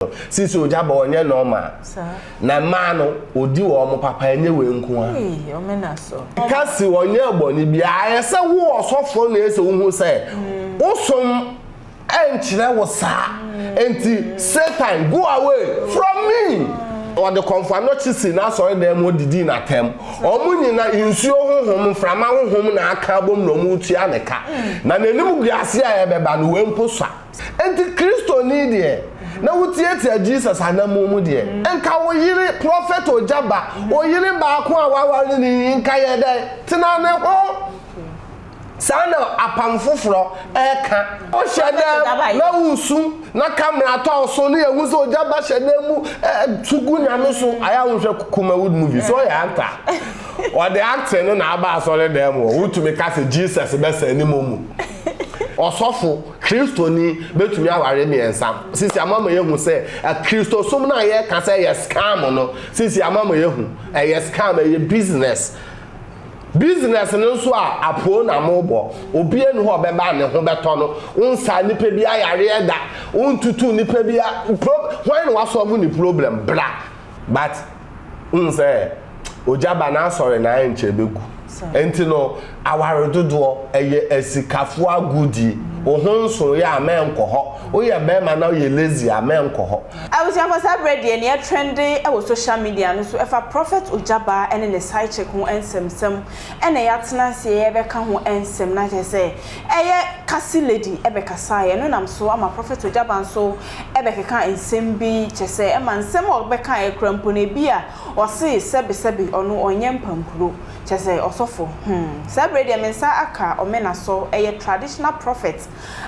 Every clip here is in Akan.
no sisi ogya bɔ ɔnyɛ normal na mmaa no odi wɔn papa ɛnyɛ wei nko a ɛka si ɔnyɛ bɔne bi ayɛ sɛ wo ɔsɔfoɔ na ɛsɛ wohu sɛ wosom ɛnkyerɛ wo saa nti satan go away from me ɔde kɔmfoano kye si n'asɔre dan mu ɔdidi n'atɛm ɔmo nyina nsuo honhom mframa honhom na aka abom na ɔmo tua ne ka na n'anim guase a ɛbɛba no wei mpo sa Enti Kristoni deɛ, na wo tiatia Jesus anammɔn mu deɛ, nka wo yere, prɔfɛt ogya ba, wo yere baako a woaware no yi, nka yɛ dɛn? Tena ne ho. Saa na Apam Foforɔ ɛka. Hyɛ dɛm na wo su, na ka mmara tɔ wo so, na yɛ hu sɛ ogya ba hyɛ dɛm mu ɛ, tu gu Nyame so. Ayɛ a wo nhwɛ Kumawood movie, so yɛ act a, wɔde acting no na aba asɔre dɛm o, wo tumi ka sɛ Jesus bɛsa animu mu, ɔsɔfo. Kristoni betumi aware mmiɛnsa. Sisi ama ma yɛahu sɛ Kristosom no a yɛka sɛ ɛyɛ scam no, sisi ama ma yɛahu ɛyɛ scam, ɛyɛ business. Business no nso a apoo na mobɔ. Obiara nni hɔ a ɔbɛba a ne ho bɛtɔ no. Wonsaa nnipa biara yareɛ da. Wontutuu nnipa biara. Pro, hwan na wasɔ mo ne problem? Bra. But wohu sɛ ogya ba n'asɔre na ayɛ nkyɛ ɛbɛgu. Ɛnti no aware dodoɔ ɛyɛ asikafoɔ agodie. Wo ho nso yɛ a mɛnkɔ hɔ. Woyɛ bɛɛma na woyɛ lazy a mɛnkɔ hɔ. Abusuafoɔ saa berɛ deɛ nea ɛtrɛnde wɔ social media no so ɛfa Prophet Ogyaba ne ne side chick ho nsɛmsɛm ɛna yɛatena aseɛ yɛrebɛka ho nsɛm na kyerɛ sɛ ɛyɛ Kasi lady ɛbɛkasaeɛ no nam so ama Prophet Ogyaba nso bɛkeka nsɛm bi kyɛ sɛ ɛma nsɛm a ɔbɛkaeɛ koraa mpo no ebi a ɔse sɛbesɛbe ɔno ɔnyɛ mpampuro kyɛ sɛ ɔsɔfo hmm saa berɛ deɛ me nsa aka Ɔmenasɔ ɛyɛ traditional prophet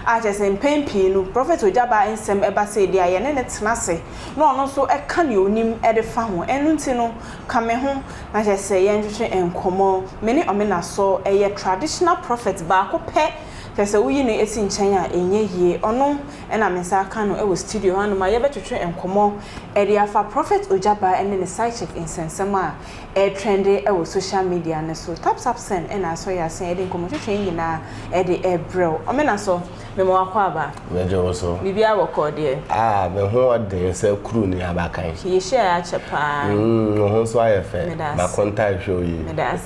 a kyɛ sɛ mpɛn pii no Prophet Ogyabaa nsɛm ɛba sei deɛ a yɛne no tena ase na ɔno nso ka deɛ ɔnim de fa ho ɛno nti no ka me ho na kyɛ sɛ yɛntwetwe nkɔmmɔ me ne Ɔmenasɔ ɛyɛ traditional prophet baako pɛ kyɛ sɛ woyi no si nkyɛn a ɛnyɛ yie ɔno Ɛna me nsa aka no wɔ studio hɔ anom a yɛbɛtwetwe nkɔmmɔ de afa Prophet Ogyabaa ne ne sidechick nsɛnsɛm a ɛretrɛnde wɔ social media no so. Tap tap send na asɔ yɛn ase a yɛde nkɔmmɔtwetwe yi nyinaa de rebrɛ wo. Ɔmena so, mema wo akwaaba. Megye wo so. Biribiara wɔ kɔɔ deɛ? Ah, me ho ɔden sɛ kuru ne abakan. Yɛ hyiaeɛ akyɛ paa. Mm, wo ho nso ayɛ fɛ. Meda ase. M'akonta rehwɛ wo yie. Meda ase.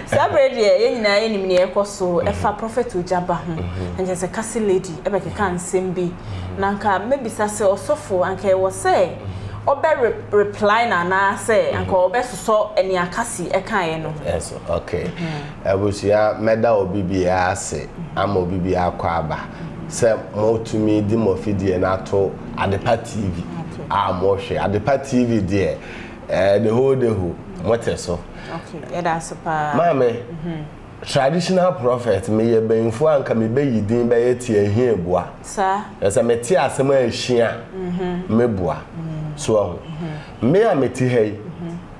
Saa berɛ deɛ, yɛn nyinaa yɛnim nea ɛrekɔ so fa Prophet Ogyaba ho. Ankyɛ sɛ Kasi Lady bɛkeka nsɛm bi na anka mɛbisa sɛ ɔsɔfo anka ɛwɔ sɛ ɔbɛ reply no anaasɛ anka ɔbɛsosɔ nea Kasi kaeɛ no. Ɛso ok. Abusua mɛda obi biara ase ama obi biara akɔ aba sɛ motumi de mo afidie no ato Adepa TV a mohwɛ. Adepa TV deɛ the whole day ho mote so. Ok yɛda ase paa. Maame. Traditional prophet, meyɛ banyinfoɔ a nka me bɛyi din bɛyɛ Tiahie Boa. Saa. Na sɛ mete asɛm a ɛhyia a, me boa. So wahu? Me a mete ha yi,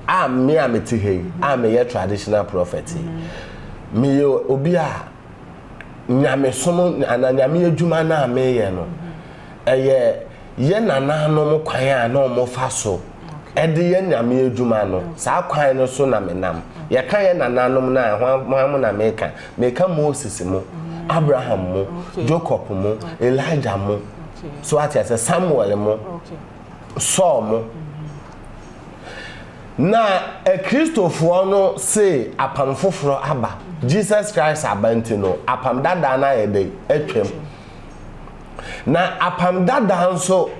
a me a mete ha yi, a meyɛ traditional prophet yi, meyɛ obi a Nyamesom anaa Nyame adwuma no a meyɛ no, ɛyɛ yɛn nananom kwan a na wɔfa so de yɛ nyame adwuma no. Saa kwan no so na menam. Yɛka yɛn nananom no a, hwan mo na meka? Meka Moses mo, Abraham mo, Jacob mo, Elijah mo, so ate aseɛ, Samuel mo, Saul mo. Na Akristofoɔ no se apam foforɔ aba, Jesus Christ aba nti no, apam dadaa no ayɛ dɛn? Atwam. Na Apam Dada nso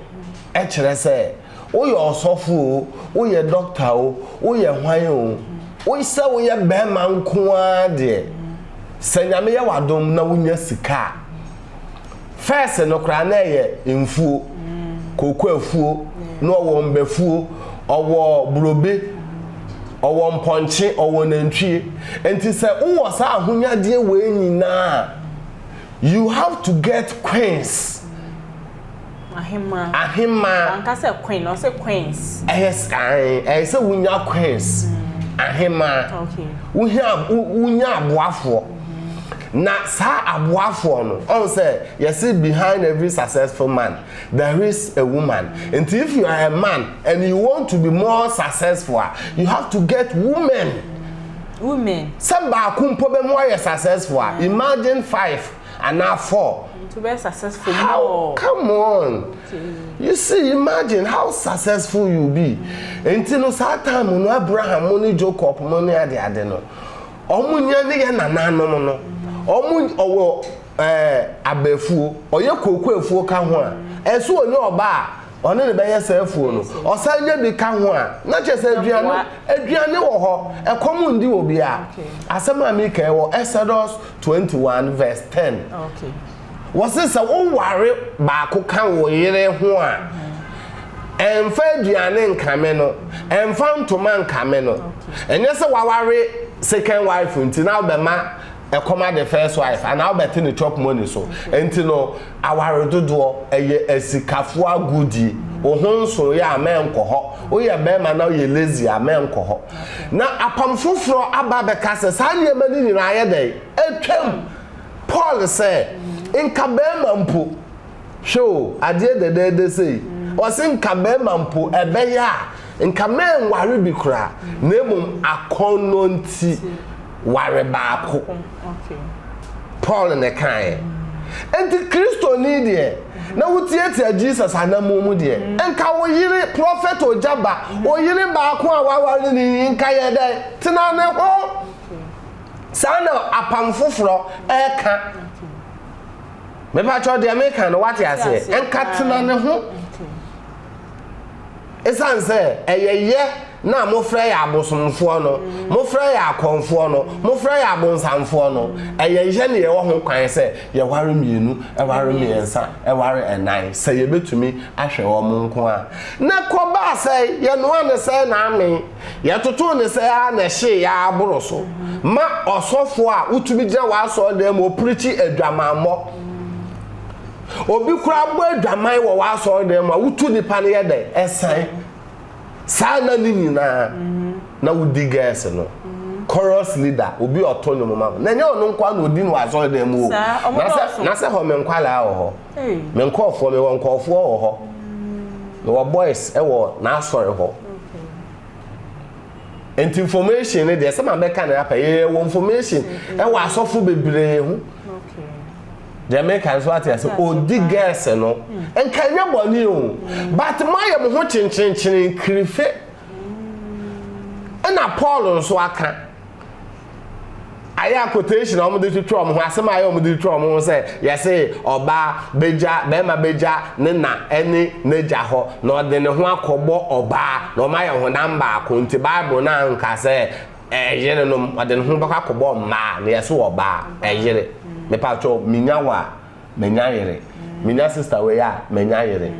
kyerɛ sɛ woyɛ ɔsɔfo o, woyɛ dɔkta o, woyɛ hwan o, wo sɛ woyɛ bɛrima nko ara deɛ, sɛ Nyame yɛ w'adom na wonya sika a, fɛɛse no koraa na ɛyɛ mfuo, kooko afuo, na ɔwɔ mbafuo, ɔwɔ burobe, ɔwɔ mpɔnkye, ɔwɔ nantwie. Nti sɛ wowɔ saa ahonyadeɛ wei nyinaa a, You have to get queens. Ahemaa. Ahemaa. Wanka sɛ queen, ɔsɛ queens. Ɛyɛ ae, ɛyɛ sɛ wonya queens. Mm. Ahemaa. Okay. Wohia wonya aboafoɔ. Mm-hmm. Na saa aboafoɔ no, ɔn sɛ yɛsi behind every successful man there is a woman. Mm. Nti if you are a man and you want to be more successful, ah, you have to get women. Mm. women. Sɛ baako mpo bɛ mu ayɛ successful a, imagine five anaa four. Nti bɛyɛ successful more. How, come on. You see, imagine how successful you be. Nti no saa time no Abraham mo ne Jocob mo ne ade ade no, ɔmo nya ne yɛ nananom no, ɔmo ɔwɔ ɛɛ abafuo, ɔyɛ kooko afuo ka ho a, ɛso ɔnya ɔbaa a, Ɔne ne bɛyɛsɛɛfoɔ no, ɔsan nya bi ka ho a, na kyerɛ sɛ aduane no, aduane wɔ hɔ, ɛkɔm ndi obiara. Asɛm a meka yi wɔ Exodus 21 verse 10. Wɔse sɛ woware baako ka wo yere ho a, ɛmfa aduane nkame no, ɛmfa ntoma nkame no. Ɛnyɛ sɛ waware second wife nti na wobɛma Ɛkɔm ade first wife anaa wobɛte no chop money so nti no aware dodoɔ ɛyɛ asikafoɔ agodie wo ho nsoeɛ a mɛnkɔ hɔ woyɛ barima na woyɛ lazy a mɛnkɔ hɔ na apam foforɔ aba bɛka sɛ saa nneɛma no nyinaa ayɛ dɛn atwam Paul sɛ nka barima mpo hwɛ o adeɛ dɛdɛɛdɛ sei ɔse nka barima mpo ɛbɛyɛ a nka mɛnware bi koraa na mmom akɔnnɔ nti ware baako. Paul na ɛkaeɛ. Enti Kristoni deɛ, na wotiatia Jesus anammɔn mu deɛ, nka wo yere, prɔfɛt ogya ba, wo yere baako a woaware no yi, nka yɛ dɛn? Tena ne ho. Saa na Apam Foforɔ reka. Mepakyɛw deɛ meka no, woate aseɛ? Nka tena ne ho. Esiane sɛ ɛyɛ yɛ na mofrɛ yɛ abosomfoɔ no, mofrɛ yɛ akɔmfoɔ no, mofrɛ yɛ abonsamfoɔ no, ɛyɛ yɛ na yɛwɔ ho kwan sɛ yɛware mmienu, ɛware mmiɛnsa, ɛware ɛnan, sɛ yɛbɛtumi ahwɛ wɔn nko a. Na ɛkɔbaa sɛɛ, yɛnoa no sɛɛ na amee, yɛtotoo no sɛɛ ara na ɛhyeeɛ ara boro so ma ɔsɔfoɔ a wotumi gyina w'asɔredan mu ɔpirikyi adwamammɔ. Obi koraa bɔ adwaman wɔ w'asɔredan mu a, wotu nnipa no yɛ dɛn? Ɛsan. Saa nna no nyinaa, na wodi gɛɛse no. Chorus leader, obi a ɔto nnwom ma wo. Na ɛnyɛ ɔno nko ara na odi no wɔ asɔredan mu o. Na sɛ, na sɛ hɔ me nkwadaa wɔ hɔ. Me nkurɔfoɔ, mewɔ nkurɔfoɔ wɔ hɔ. Mewɔ boys wɔ n'asɔre hɔ. Nti information no deɛ, sɛ mabɛka no apɛ, yɛwɔ information wɔ asɔfo bebree ho. deɛ meka nso ate ase ɔdi gɛɛse no nka nyɛ bɔne o but moayɛ mo ho kyenkyenkyene kirife ɛna paul nso aka ayɛ a quotation a wɔde twitwa wɔn ho asɛm a ayɛ wɔde twitwa wɔn ho sɛ yɛse ɔbaa bɛgya bɛrima bɛgya ne na ɛne n'agya hɔ na ɔde ne ho akɔbɔ ɔbaa na wɔn ayɛ honam baako nti bible no anka sɛ Ɛyerenom ɔde ne ho bɛkɔ akɔbɔ mmaa na yɛse ɔbaa ɛyere mepatwɔ menya wo a menya yere menya sister wei a menya yere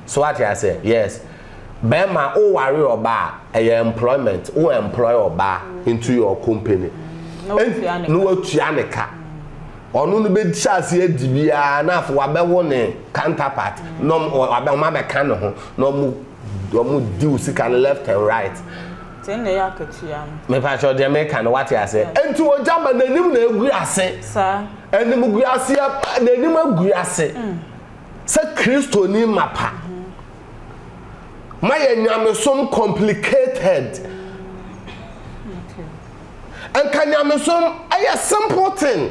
so wate aseɛ yes bɛɛma wo ware ɔbaa a ɛyɛ employment wo employ ɔbaa into your company na watua ne ka ɔno no bɛhyɛ aseɛ adi biara na afei wabɛwo ne counterpart na ɔma bɛka ne ho na ɔmo ɔmo di wo sika no left and right. Sɛ na ɛyɛ akatua no. Mepakyɛw deɛ meka no wate aseɛ? Nti ogya ma n'anim na agu ase. Saa. Animguaseɛ ma n'anim agu ase. Sɛ Kristoni mapa. Mayɛ nyamesom complicated. Okay. Nka nyamesom ɛyɛ simple thing.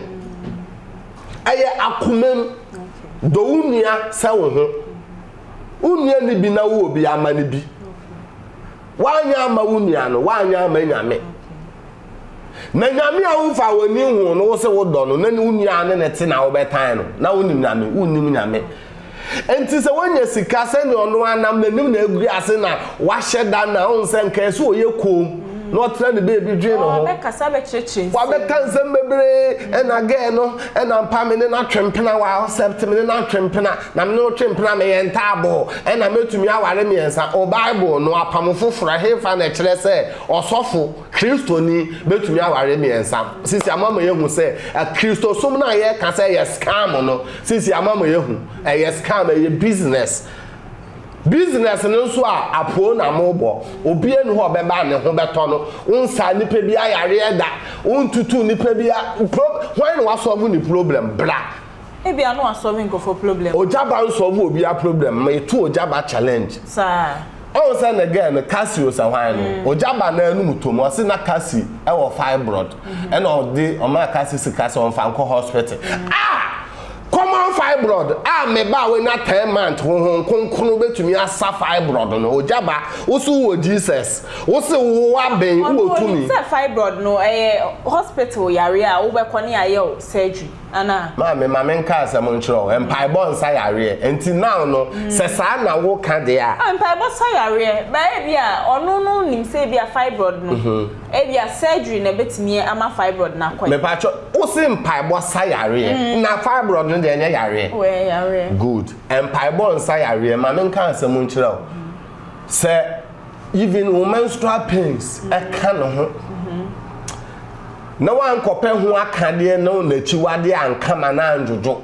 Ɛyɛ akomam. Okay. Dɔ wo nua sɛ wo ho. Wo nua ni bi na wo wɔ bi ama no bi. Woanyɛ amma wo nua no, woanyɛ amma Nyame. Na Nyame a wofaa w'ani hoo no, wose wodɔ no, na ne wo nua ne no te na wobɛtan no, na wonim Nyame, wonnim Nyame. Enti sɛ wonya sika sɛnea ɔno ara nam n'anim na agu ase na wahyɛ da no a, wohu sɛ nka ɛsɛ ɔyɛ koom na ɔtena ne baabi dwen ne ho. Wabɛkasa bɛkyerɛkyerɛ nsɛm. Wabɛka nsɛm bebree, ɛna gɛɛ no, ɛna mpa me ne no atwe mpena, wa accept me ne no atwe mpena. Na me ne wo twe mpena, meyɛ ntaaboo, ɛnna metumi aware mmiɛnsa. O Bible no apam foforo, ɛhefa na ɛkyerɛ sɛ ɔsɔfo Kristoni betumi aware mmiɛnsa? Sisi ama ma yɛahu sɛ Kristosom no a yɛka sɛ ɛyɛ scam no, sisi ama ma yɛahu, ɛyɛ scam, ɛyɛ business. Business no nso a, apoo na mobɔ. Obiara nni hɔ a ɔbɛba a ne ho bɛtɔ no. Wonsaa nnipa biara yareɛ da. Wontutuu nnipa biara. Pro, hwan na wasɔlvo ne problem? Bra. Ebia no wa solve nkorɔfoɔ problem. Ogya ba nsɔlve obiaa problem ma yɛtu ogya ba challenge. Saa. Ɔhu sɛ ne girl no Cassie osɛ hwan no ogya ba na anum tɔ mu ɔse na Cassie wɔ fibroid ɛna ɔde ɔmaa Cassie sika sɛ ɔnfa nkɔ hospital ah common fibroid ah me ba a wanya ten month honhom kronkron bɛtumi asa fibroid no ogya ba wose wowɔ Jesus wose wowɔ aben wowɔ tumi. Ɔno onim sɛ fibroid no ɛyɛ hospital yareɛ a wobɛkɔ ne yayɛ wo surgery. Anaa? Maame, ma me nka asɛm nkyerɛ wo. Mpaebɔ nsa yareɛ. Nti now no, mm. sɛ saa na wo ka deɛ a. Ah, mpaebɔ sa yareɛ. Bɛyɛ bi a, ɔno no nim sɛ ebi a fibroid no. Mhm. Ebi a surgery na ebetumi ama fibroid na kɔɛ. Mepatwɔ, wo se mpaebɔ sa yareɛ. Mm. Na fibroid no deɛ ɛnyɛ yareɛ. Wɛ yareɛ. Good. Mpaebɔ nsa yareɛ. Ma me nka asɛm nkyerɛ wo. Sɛ even wo menstrual pains ɛka ne ho na woankɔpɛ ho akadeɛ na n'akyiwadeɛ ankama na andwodwo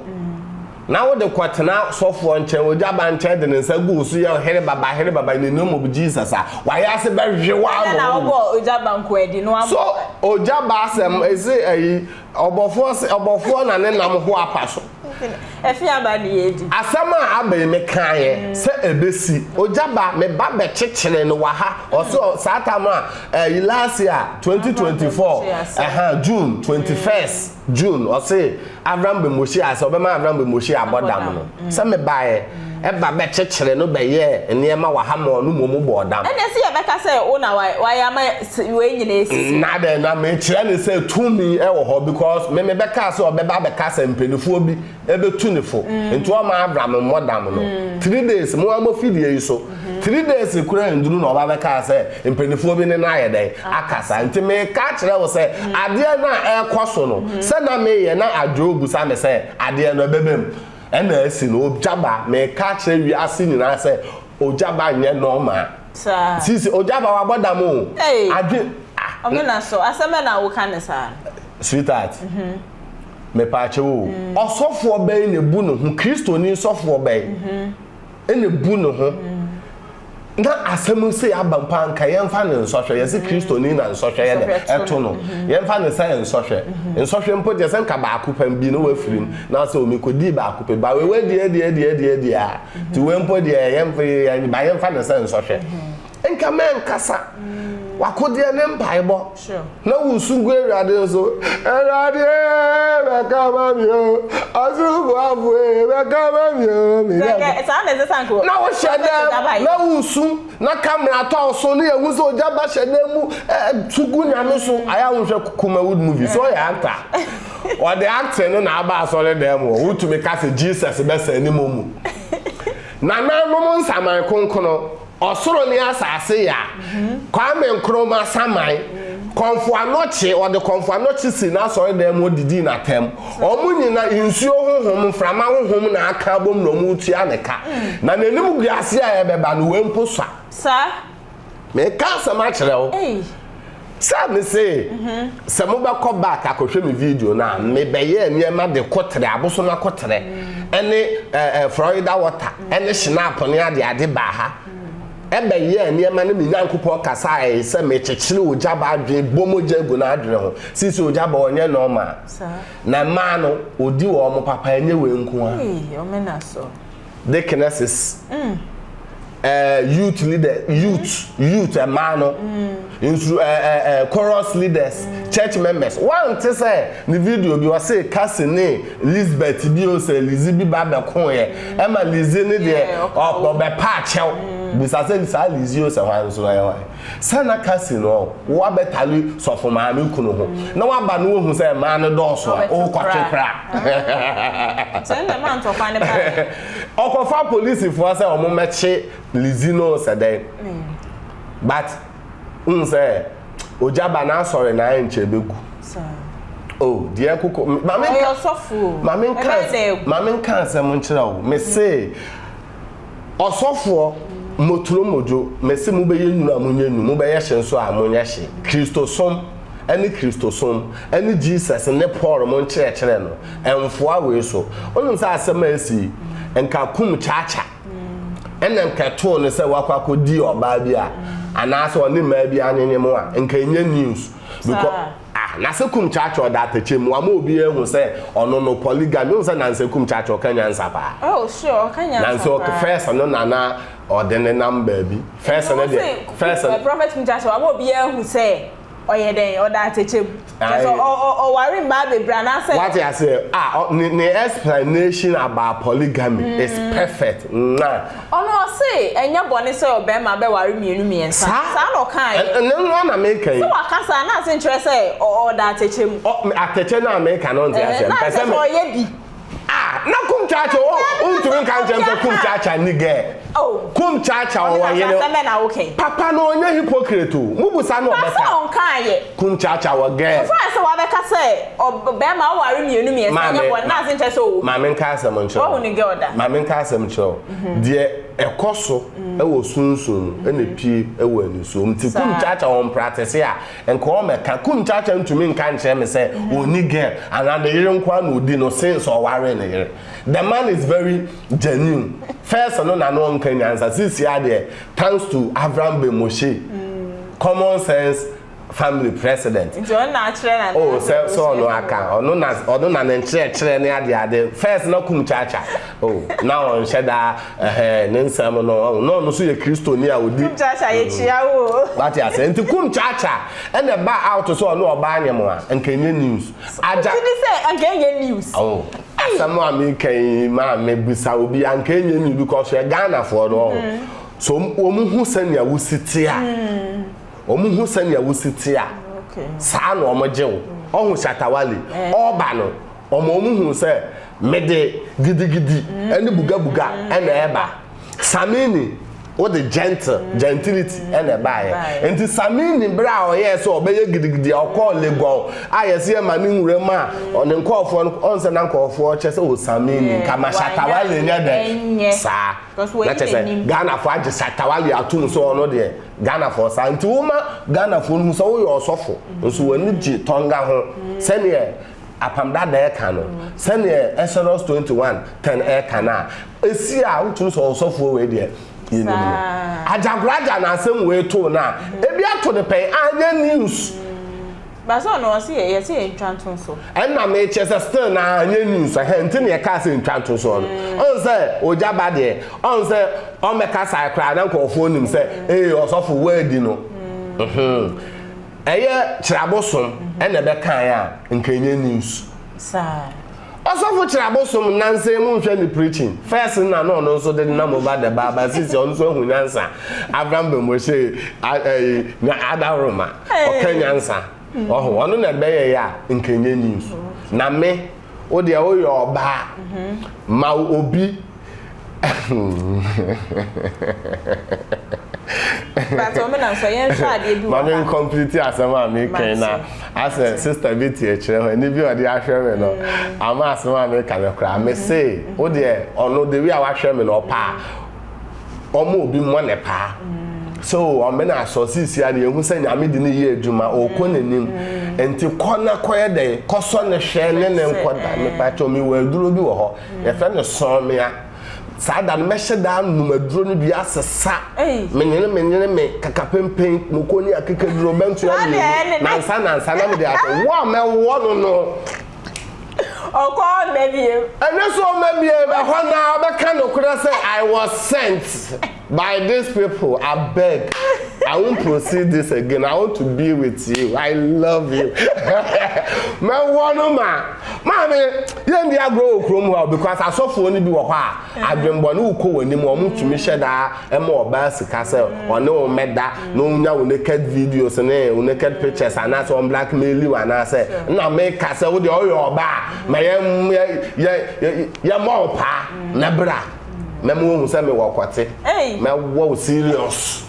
na wode kɔtena sɔfoɔ nkyɛn ogya ba nkyɛn de ne nsa gu so yɛ here baba here baba in the name of Jesus a wayɛ ase bɛhwe wo ama wo so ogya ba asɛm ɛsɛ ayi Ɔbɔfoɔ se, Ɔbɔfoɔ na ne nam ho apa so. Ɛfee aba ne yɛ adi. Asɛm a aba yi me kaeɛ sɛ ɛbɛsi. Ogya ba, me ba bɛkyekyere no wɔ ha. Ɔse ɔ, saa tam a, ɛyi last year, 2024, ɛha, June, 21st June, ɔse Avram Bemoshi ase, ɔbɛma Avram Bemoshi abɔ dam no. Sɛ me baeɛ. ba bɛkyekyere no bɛyɛɛ nneɛma wahamɔɔ no mmom bɔɔ dam. Ɛnneɛ sɛ yɛbɛka sɛ wo na wayɛ ama wei nyinaa asisi. Na dɛn, na mekyerɛ no sɛ tumi wɔ hɔ because me mebɛkaa sɛ ɔbɛba abɛka sɛ mpaninfoɔ bi bɛtu no fo nti ɔmma Abram mmɔ dam no three days, mo ara mo fidie yi so three days koraa nnuru na ɔba bɛkaa sɛ mpaninfoɔ bi ne no ayɛ dɛn aka saa nti meka akyerɛ wo sɛ adeɛ no a ɛrekɔ so no sɛ na meyɛ na adwoa ɔbusa me sɛ adeɛ no ɛbɛba mu. Ɛna asi no ogya ba. Meka akyerɛ wiase nyinaa sɛ ogya ba nyɛ normal. Saa. Sisi ogya ba wabɔ dam o. Ei. Adwen ah. Ɔmena so asɛm bɛn na woka no saa no. Sweetheart. Mhm. Mepaakyɛw o. Mhm. Ɔsɔfoɔ bɛn na ebu ne ho? Kristoni sɔfoɔ bɛn? Mhm. ɛna ebu ne ho na asɛm sei aba mpo a nka yɛmfa no nsɔhwɛ yɛse kristoni na nsɔhwɛ yɛ dɛ ɛto no yɛmfa no sɛ nsɔhwɛ nsɔhwɛ mpo deɛ sɛ nka baako pɛ bi na wafiri mu na sɛ omi kɔdii baako pɛ ba wewe deɛ deɛ deɛ deɛ deɛ a ti we mpo deɛ yɛmfa no sɛ nsɔhwɛ nka mɛnkasa wakodeɛ ne mpaebɔ kyerɛw. Na wosu gu Awurade nso, Awurade ee, bɛka ama me o, Ɔsoroboafo ee, bɛka ama me o, me Nyankopɔn. Saa na ɛsɛ sɛ anka Na wohyɛ dɛ, na wosu, na camera tɔ wo so, na yɛhu sɛ ogya ba hyɛ dɛ mu, su gu Nyame so. Ayɛ a wonhwɛ Kumawood movie, sɛ ɔyɛ actor a, ɔde acting no na aba asɔredan mu hɔ, wotumi ka sɛ Jesus bɛsa anim mu. Nananom nsaman konkono, ɔsoro ne asase ya, Kwame Nkrumah saman, kɔmfo anɔkye, ɔde kɔmfo anɔkye sii n'asɔredan mu odidii n'atam. Wɔn nyina, nsuo honhom, mframa honhom na aka abom na wɔretua ne ka. Na n'animguase a ɛbɛba no, wei mpo sua. Saa Meka asɛm akyerɛ wo. Sɛ me se, mhm. sɛ mobɛkɔ back akɔhwɛ me video no a, mebɛyɛɛ nneɛma de kɔtrɛ, abosom akɔtrɛ, mhm. ɛne eh, eh, Florida water, mhm. ɛne shinap ne ade ade baa ha. ɛbɛyɛɛ nneɛma no me nyankopɔn kasa a ɛyɛ sɛ mekyekyere ogya ba adwene bɔ mogya agu no adwene ho sisi ogya ba ɔnyɛ nɔɔma na mmaa no ɔdi wɔ ɔmo papa ɛnyɛ wei nko a deaconesses, mm. uh, youth leader, mm. youth, mm. youth, a man, no, mm. into uh, uh, uh, chorus leaders, mm. church members. One to say the video bi was say Cassine, Lisbeth, bi o say Lizzie bi ba be ko ye. Emma Lizzie ne de opo be pa chew. Bisa say Lizzie o say wan so na ye wan. Sɛ na Cassie no wo abɛtare sɔfo maame kunu ho na waba na wahu sɛ mmaa no dɔɔso a, ɔrekɔtwe kora. Ɔkɔfa polisifoɔ sɛ wɔmmɛkye Lizzie no sɛ dɛn. But wohu sɛ ogya ba n'asɔre na ɛnkyɛ ɛbɛgu. Oh deɛ koko. Ɔyɛ ɔsɔfo o. Maame nka asɛm nkyerɛ wo. Mese. Ɔsɔfoɔ, moturo modwo, mese mobɛyɛ nwunu a monyɛ nwunu, mobɛyɛ hye nso a monyɛ hye. Kristosom ne Kristosom ne Jesus ne Paul mo nkyerɛkyerɛ no ɛnfoa wei so. Wonim sɛ asɛm a asi yi nka kum Chacha na nka ɛtoo no sɛ wakɔ akɔdi ɔbaa bi a anaasɛ ɔne mmaa bi anwenyem a nka ɛnyɛ news because Ah, Nansekum Churchill da atɛkyɛ mu, wama obiara ahu sɛ ɔno no, polygamy, wohu sɛ Nansekum Churchill ka nyansa paa. Oh, sure, ɔka nyansa paa. Nanse ɔka, first no na na ɔde nenam baabi, first no deɛ, first no. Prophet Kum Churchill wama obiara ahu sɛ ɔyɛ dɛn, ɔda atɛkyɛ mu, kyerɛ sɛ ɔ, ɔ, ɔware mmaa bebree anaasɛ. Wate aseɛ, ah, ɔ, ne, ne explanation about polygamy is perfect, mwah. Ɔno ɔse ɛnyɛ bɔne sɛ ɔbarima bɛware mmienu mmiɛnsa, saa na ɔkaeɛ. Saa, ɛno ara na meka yi. Sɛ waka saa no ase nkyerɛ sɛ ɔda atɛkyɛ mu. Ɔ, atɛkyɛ no a meka no ɔnte aseɛ, mpɛ sɛ me. Na kyerɛ sɛ ɔyɛ bi. Ah, na kum kyakya o, wontumi nka nkyerɛ me sɛ kum kyakya nni girl. Oh. Kum kyakya ɔwɔ yere. Ɔne na asɛm bɛ na woka yi. Papa no ɔnyɛ hypocrite o, mubusa no ɔbɛka. Ɔka sɛ ɔnkaeɛ. Kum kyaakyaa wɔ girl. Ɔsan sɛ wabɛka sɛ ɔb bɛɛma aware mmienu mmiɛnsa Maame nyɛ bɔne ma na ase nkyerɛ sɛ ɔwɔ mu. maame nka asɛm nkyerɛ Wahu wo. ne girl da. Maame nka asɛm nkyerɛ wo. Deɛ ɛkɔ so wɔ sunsum mu na ɛpue wɔ anisuo mu. Nti kum Saa. kyaakyaa wɔ mpratese a, nka ɔmmɛka. Kum kyaakyaa ntumi nka nkyerɛ me sɛ ɔnni girl anaa ne yere nko ara na ɔdi no since ɔwaree ne yere. The man is very genuine. First no na na ɔnka nyansa. Seesei ara deɛ thanks to Avram Ben Moshe, common sense family president. Nti ɔno na akyerɛ na. Oh, sɛ sɛ ɔno aka ɔno na ɔno na ne nkyerɛkyerɛ ne ade ade first na kum kyaakya. Oh, na ɔnhyɛ daa ɛhɛn ne nsɛm no ɔn na ɔno so yɛ kristoni a odi. Kum kyaakya yɛ kyia wo. Mm. Wate ase nti kum kyaakya ɛna ba out sɛ ɔno ɔbaa nyɛmoa nka enye news. Agya. Ti ni sɛ nka enye news. Oh. Asɛm a meka yi maa me bisa obi anka ɛnyɛ nyi because hwɛ Ghanafoɔ no ɔho. Mm-hmm. So wɔn hu sɛnea wosi te a. Wɔn mm. hu sɛnea wosi te a. Saa na wɔn gye wo. Ɔho Shatawale. Eh. Ɔba no, wɔn wɔn hu sɛ mede gidigidi ɛne bugabuga ɛna ɛba. Samini, wode gentle, mm. gentility ɛna ɛbaeɛ. Nti Samini berɛ a ɔyɛɛ sɛ ɔbɛyɛ gidigidi a ɔkɔɔ Legon a yɛsɛ yɛma ne nwura mu a ɔne nkɔɔfoɔ no ɔn sɛ na nkɔɔfoɔ kyɛ sɛ o Samini nka ma Shatawale nyɛ dɛ saa. Na kyɛ sɛ Ghanafoɔ agye Shatawale atom sɛ ɔno deɛ Ghanafoɔ saa. Nti woma Ghanafoɔ no mu sɛ woyɛ ɔsɔfo nso w'ani gye Tonga ho mm. sɛdeɛ apam dada ɛka no sɛdeɛ Exodus 21 10 ɛka no a Esi a wotum sɔ ɔsɔfoɔ wei deɛ yɛnim no. Agyakoragya na asɛm wei too no a, ebi ato no pɛn, anyɛ news. But sɛ ɔno ɔse yɛ yɛse yɛ ntwa nto nso. Ɛna mekyɛ sɛ still no ara anyɛ news ɛhɛn nti na yɛkaa sɛ ntwa nto nsoɔ no. Ɔhu sɛ ogya ba deɛ, ɔhu sɛ ɔmmɛkasae koraa na nkorɔfoɔ nim sɛ ee ɔsɔfo woadi no. Mhmm. Ɛyɛ kyerɛ abosom ɛna ɛbɛkaeɛ a nka ɛnyɛ news. Saa. Ɔsɔfo kyerɛ abosom nnansa mu nhwɛ ne preaching first no na na ɔno nso de nam over the bar ba sisi ɔno nso ahu nyansa Abraham Bemoshe ɛyi nya adaworoma ɔka nyansa ɔho ɔno na ɛbɛyɛ yɛ a nkenyɛ news na me wo deɛ woyɛ ɔbaa ma obi Pato me na so yɛn hwɛ adeɛ bi wɔ ha. Mami nkɔmpliti asɛm a mi kan na asɛ sista bi ti ɛkyerɛ hɔ ɛni bi ɔde ahwɛ mi no ama asɛm a mi ka no koraa mi se wo deɛ ɔno the way a wahwɛ mi no ɔpa a ɔmo obi mɔ ne paa so ɔmɛ na asɔ sisi a yɛhu sɛ nyame de ne yɛ adwuma ɔkɔ n'anim nti kɔ na kɔyɛ dɛn kɔsɔ ne hwɛ ne ne nkɔda mi pato mi wɔ aduro bi wɔ hɔ Yɛfrɛ no sɔɔmea. Saa da no, mɛhyɛ daa nnom aduro no bi asesa menyene menyene me kakapempen, moko ne akekaduro, bɛntoa mmienu, nansa nansa na mede ato wo a mɛwɔ no no. Ɔkɔ hɔ mmɛ biem. Ɛno nso ɔmmɛ biem. Ɛhɔ no ara ɔbɛka nokorɛ sɛ I was sent. By this people abeg I won't proceed this again I want to be with you I love you mɛ wɔ no ma maame yɛn di agorɔ wɔ kurom hɔ a because asɔfoɔ no bi wɔ hɔ a adwembɔ ne wokɔ wɔn anim wɔn tumi hyɛ daa ɛma ɔbaa sika sɛ ɔne wɔn mɛda na ɔnya wo naked videos ne wo naked pictures anaasɛ wɔn blackmail you anaasɛ na meka sɛ wo deɛ ɔyɛ ɔbaa ma yɛ yɛ yɛ yɛ yɛ mɔ ɔpaa mɛbra. mɛma wohu sɛ mewɔ akwate mɛwɔ wo serious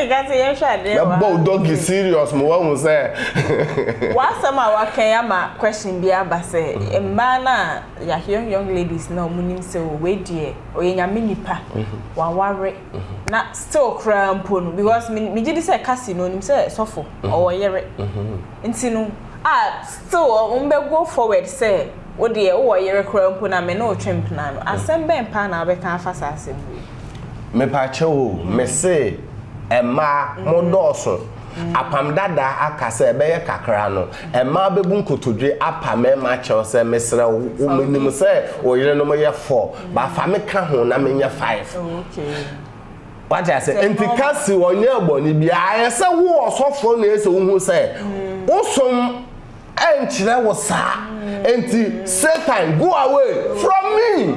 mɛbɔ wo dɔgi serious ma woahu sɛ w'asɛm a wakɛn ama question bi aba sɛ mm-hmm. mmaa no a yɛahwɛ young young ladies na wɔn nim sɛ oh, wei deɛ ɔyɛ nyame nipa mm-hmm. waware mm-hmm. na still koraa mpo no because megye di sɛ kasi na onim sɛ sɔfo ɔwɔ yere Nti no a still ɔ wɔn bɛ go forward sɛ wo deɛ wo wɔ yere koraa mpo na me ne wo twe mpena no asɛm bɛn paa na wobɛka afa saa asɛm wei ho. Mepakyɛw o, me se mmaa mo dɔɔso. Apam dada aka sɛ ɛbɛyɛ kakra no, mmaa bɛbu nkotodwe apa mmarima akyɛw sɛ mesrɛ wo wo menim sɛ wo yerenom yɛ four but fa me ka ho na menyɛ five. Oh okay. Wate ase? Nti ka se ɔnyɛɛ bɔne biaa. Ayɛ sɛ wo ɔsɔfoɔ na ɛsɛ wohu sɛ wo som nkyerɛ wo saa. Nti Satan go away from me.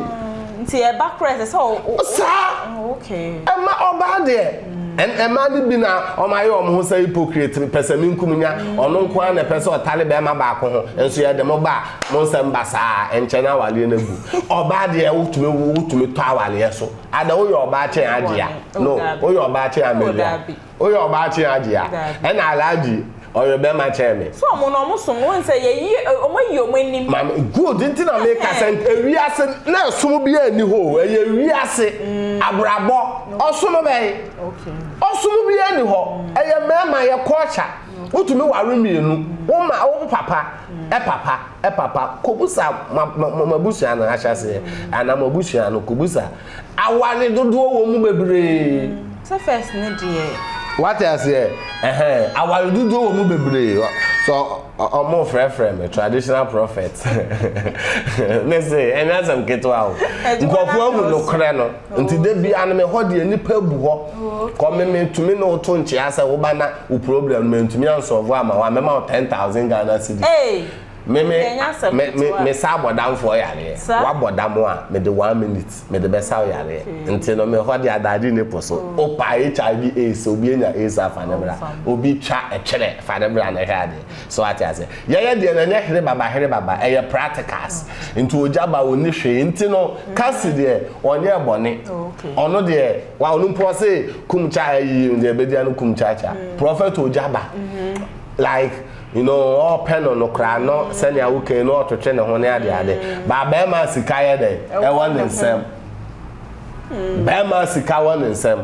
Nti ɛba koraa ɛsɛ sɛ wo. Saa. Okay. Ɛma ɔbaa deɛ. Ɛmaa no bi na ɔmo ayɛ ɔmo ho sɛ hypocrite pɛsɛ me nkum nya ɔno nko ara na ɛpɛ sɛ ɔtare bɛɛma baako ho nso yɛde mo ba mo nsɛm ba saa ɛnkyɛ na awaleɛ no agu. Ɔbaa deɛ wotumi wotumi tɔ awaleɛ so. Ada woyɛ ɔbaakye Agyea. No, woyɛ ɔbaakye Amelia. Woyɛ ɔbaakye Agyea. Ɛna Alhaji, ɔyɛ bɛrima kyɛn me. So ɔmo no, ɔmo som, wohu sɛ yɛyi, ɔmo ayi ɔmo anim. Maame, good, nti na meka sɛ ewiase na ɛsom biara nni hɔ o, ɛyɛ wiase, abrabɔ, ɔsom bɛn? Ɔsom biara nni hɔ, ɛyɛ mmarima, ɛyɛ culture, wotumi ware mmienu, wo ma, wo papa. Papa, papa, kɔbusa moabusua no ahyɛaseɛ, anaa moabusua no, kɔbusa. Aware dodoɔ wɔ mu bebree. Sɛ first no deɛ. Wate aseɛ ɛhɛn, aware dodoɔ wɔ mu bebree. Sɛ ɔmo frɛfrɛ me traditional prophet, mese ɛnyɛ asɛm ketewa o. Nkorɔfoɔ ahu nokorɛ no. Nti da biara no me hɔ deɛ nipa bu hɔ. Kɔ me me tumi ne woto nkyea sɛ woba na wo problem no me ntumi ansɔvo ama hɔ a mɛma wo 10,000 Ghana cedis. Hey! Me me me me me sa abɔ damfoɔ yareɛ. Wabɔ dam a me de one minute me de bɛsa wo yareɛ. Nti no me hɔ deɛ adaade nni po so. Wopa HIV AIDS obi anya AIDS a fa ne bra. Obi twa ɛtwerɛ fa ne bra na hwɛ adeɛ. So wate ase? Yɛyɛ deɛ no ɛnyɛ here baba here baba, ɛyɛ practicals. Nti ogya ba ɔnni hwee, nti no Cassie deɛ ɔnyɛɛ bɔne. Ɔno deɛ wa ɔno mpo ɔse kum kya ayi no deɛ ɛbɛdi ano kum kya kya. Prophet ogya ba like you know ɔɔpɛ no no koraa no sɛnea wo ka yi no ɔɔtwetwe ne ho ne ade ade. But bɛɛma sika yɛ dɛn? Ɛwɔ ne nsam. Bɛɛma sika wɔ ne nsam.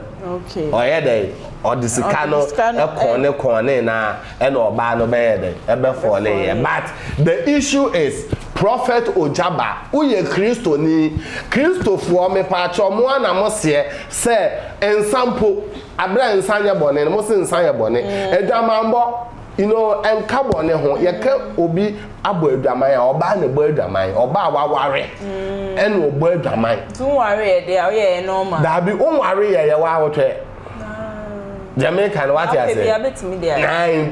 Ɔyɛ dɛn? Ɔde sika no kɔn ne kɔn ne na. ɛna ɔbaa no bɛyɛ dɛ ɛbɛ fɔle yɛ but the issue is prophet ojaba wo yɛ kristo ni kristo foɔ me paakyɛw mo a na mo seɛ sɛ nsa mpo abrɛ nsa nyɛ bɔne no mo se nsa yɛ bɔne mm. adwamanbɔ you know ɛnka bɔne ho yɛ kɛ obi abɔ adwaman a ɔbaa na ɛbɔ adwaman ɔbaa waware mm. ɛna ɔbɔ adwaman. nti nware yɛ de a ɔyɛ yɛ normal. daabi nware yɛ yɛ wa awotwɛ. deɛ meka no wate ase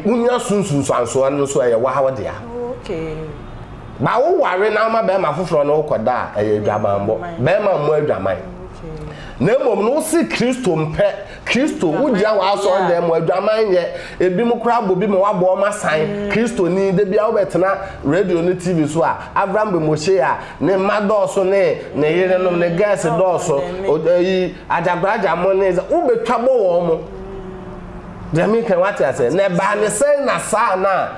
wonya sunsunsuansoɔ no so ɛyɛ waa wodea ba woware na woma bɛrima foforɔ no wokɔda a ɛyɛ adwamanbɔ bɛrima mmɔ adwaman na mmom no wose kristo mpɛ kristo wogyina w'asɔre dɛn mu adwaman yɛ ebi mu koraa bɔ bi ma wabɔ ɔma san mm. kristo ni da bia wobɛtena radio ne tv so a avram bemoshe a ne mma dɔɔso ne ne yerenom ne gɛɛse dɔɔso yi Agyakoragya mo ne sɛ wobɛtwa bɔ wɔn mo. Deɛ meka wate aseɛ. Na ɛbaa ne sɛn na saa na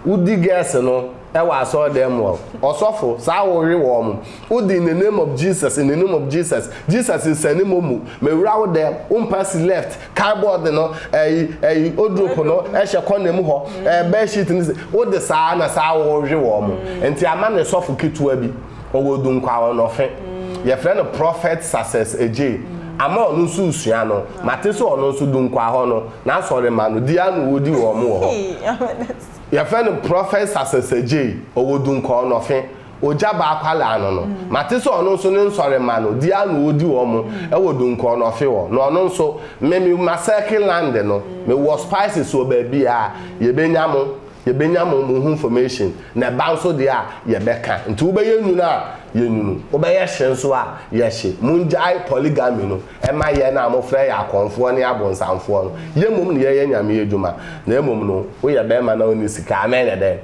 wodi girls no ɛwɔ asɔɔdan mu hɔ. Ɔsɔfo saa wowe wɔn mo. Wodi in the name of Jesus, in the name of Jesus. Jesus nsane momu. Mewura wo dɛm, wo mpasi left, car board no, ɛyi, ɛyi, odrop no ɛhyɛ kɔna mu hɔ, ɛɛ, bed sheet no se, wode saa na saa wowe wɔn mo. Nti ama no sɔfo ketewa bi. ɔwɔ Dunkwaawa Nɔfe. Yɛfrɛ no Prophet Success Adjei. Ama ɔno nso resua no. Mate sɛ ɔno nso Dunkwaa hɔ no, n'asɔremma no, di ara na wɔdi wɔn wɔ hɔ. Yɛfrɛ no Prophet Success Adjei, ɔwɔ Dunkwaawa Nɔfe. Ogya baa akwadaa no no. Mate sɛ ɔno nso ne nsɔremma no, di ara na wɔdi wɔn wɔ Dunkwaawa Nɔfe hɔ. Na ɔno nso, me, me, ma circle land no. Mewɔ spices wɔ baabiara. Yɛbɛnya mo. yɛbɛnya mo mo ho information na ɛba nso deɛ a yɛbɛka nti wobɛyɛ nwunu a yɛnwunu wobɛyɛ hye nso a yɛhye mongyae polygamy no ɛma yɛn a mofrɛ yɛn akɔmfoɔ ne abonsamfoɔ no yɛn mmom na yɛyɛ nyame adwuma na mmom no woyɛ bɛrima na wonni sika a na ɛyɛ dɛn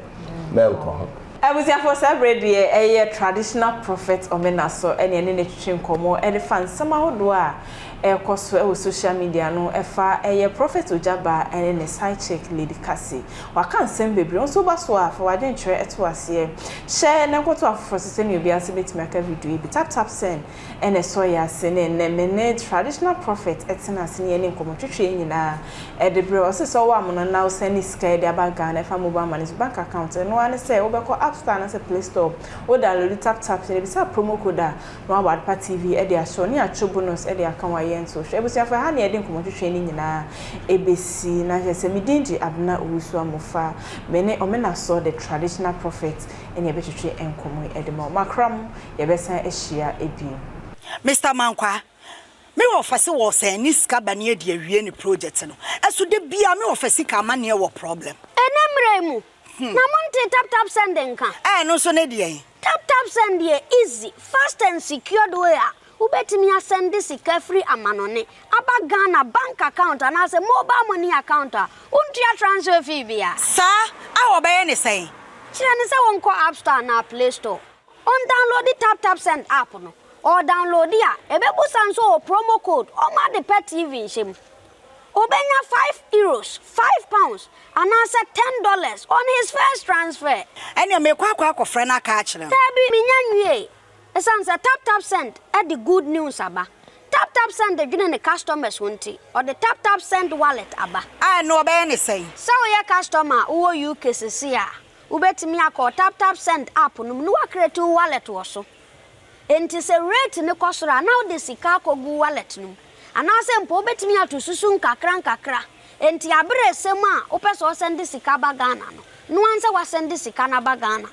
mɛnkɔ ho. Abusuafoɔ saa berɛ deɛ ɛyɛ Traditional Prophet Omena so ne ɛne no atwitwi nkɔmmɔ de fa nsɛm ahodoɔ a ɛrekɔ so wɔ social media no ɛfa ɛyɛ Prophet Ogyaba ne ne side chick Lady Cassie. Waka nsɛm bebree, wo nso wo ba so a fa w'adwenkyerɛ to aseɛ. Hyɛ na nkɔto afoforɔ so sɛdeɛ obiara nso bɛtumi aka video yi bi. Tap tap send. ɛna ɛsɔ yɛn ase ne nnɛ me ne traditional prophet ɛtena ase ne yɛne nkɔmmɔ twetwe yɛn nyinaa ɛde berɛ ɔse sɛ ɔwɔ amono na wo sɛne sika ɛde aba Ghana ɛfa mobile money so bank account ɛno ara ne sɛ wo bɛkɔ app store anaasɛ play store wo download tap tap na bisa promo code a na wabɔ adepa TV ɛde ahyɛw ne yɛatwo bonus ɛde aka wo a yɛn nso hwɛ abusuafo ɛha ne yɛde nkɔmmɔ twetwe ne nyinaa ɛbɛsi na hwɛ sɛ me din de Abena Owusu Amofa me ne Omenasor the traditional prophet. ɛne yɛbɛtwetwe nkɔmmɔ yi de ma wo. Makra mo, yɛbɛsan ahyia bio. Mister Mankwaa, me wɔfɛse wɔ sɛn ne sika ba ne adi awie ne project no ɛso da biaa me wɔfɛse ka amaneɛ wɔ problem. Ɛnɛ mmerɛ yi mu na mo ntee tap tap send nka? Ɛɛ ɛno nso ne deɛn? Tap tap send yɛ easy, fast and secured way a Wobɛtumi asɛnde sika firi amanɔne aba Ghana bank account anaasɛ mobile money account a wontua transfer fee bia. Saa a wɔbɛyɛ ne sɛn? Kyerɛ no sɛ ɔnkɔ App Store anaa Play Store, ɔndownloadi Tap Tap Send app no. Ɔredownloadi a, ɛbɛbusa no sɛ ɔwɔ promo code ɔma ade pɛ TV nhyɛ mu. Ɔbɛnya five Euros, five pounds, anaasɛ ten dollars on his first transfer. Ɛneɛ merekɔ akɔ akɔfrɛ no aka akyerɛ no. Daabi, menya nwiee. Esiane sɛ TapTapSend de good news aba, TapTapSend dwene ne customers ho nti, ɔde TapTapSend Wallet aba. A ɛno wɔbɛyɛ no sɛn? Sɛ woyɛ customer a wowɔ UK seesei a, wobɛtumi akɔ wo TapTapSend app no mu na woacreate wo wallet wɔ so. Enti sɛ rate no kɔ soro a, na wode sika akɔgu wo wallet no mu. Anaasɛ mpo wobɛtumi ato susu nkakra nkakra. Enti aberɛ resɛm a wopɛ sɛ wosɛnde sika ba Ghana no, noa sɛ woasɛnde sika no aba Ghana.